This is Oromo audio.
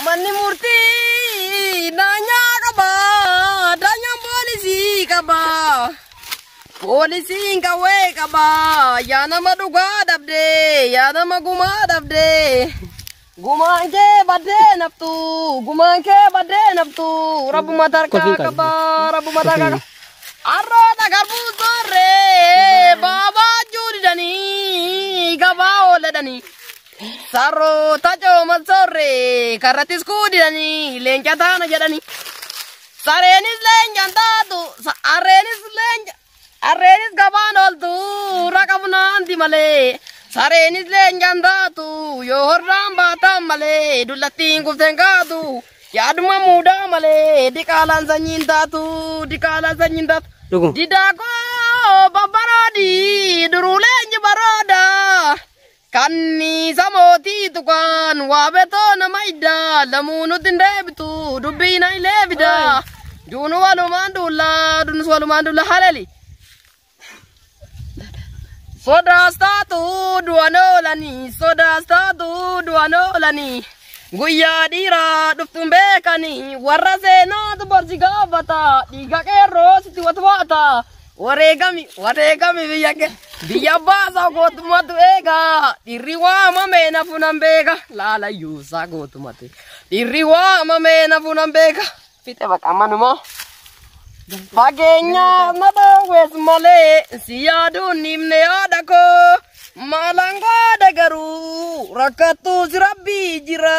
Manni murtii daanyaa qaba. Daanyaan poolisii qaba. Poolisiin qawwee qaba. Yaa nama dhugaa dhabde. Yaa nama gumaa dhabde. Gumaan kee baddee naftu. Gumaan kee baddee naftu. Rabbuma tarkaa qaba. Rabbuma tarkaa qaba. Arroota garbuu soorree. Baabaa juu didanii. Gabaa ooladhanii. Sarroota cooman soorree karrattis kuudidanii leenca taana jedhanii. Sareenis leencaan taatu harreenis leenca harreenis gabaan ooltu raqa funaanti malee. Sareenis leencaan taatu yoo horraan baataan malee dullattiin kufteen kaatu yaaduma muudaa malee diqaalaan sanyiin taatu diqaalaan sanyiin taatu. Dhuguma. Didaakoo babbaroodii duruulee inji baroodaa. Kanniisa mootii tuqaan waabetoo nama iddaa lamuu nutti hin deebitu dubbii na ilee fida duunu walumaan duulla duunus walumaan duulla halali. Sodaas taatu du'an oolanii sodaas taatu du'an oolanii guyyaa dhiiraa dhuftuun beekanii warra seenaatu barsi gaafata dhiiga qeerroo sitti watwaata Wareegami wareegami biyya kee biyya baasaa gootumatu eega dhirri waamamee nafu nan beeka laalayyuusaa gootumatu dhirri waamamee nafu nan beeka fixe baqa manuma fageenyaa na dhoowwees malee si yaaduun nimne yaada koo maalaan gaada garuu rakkattuus rabbii jira.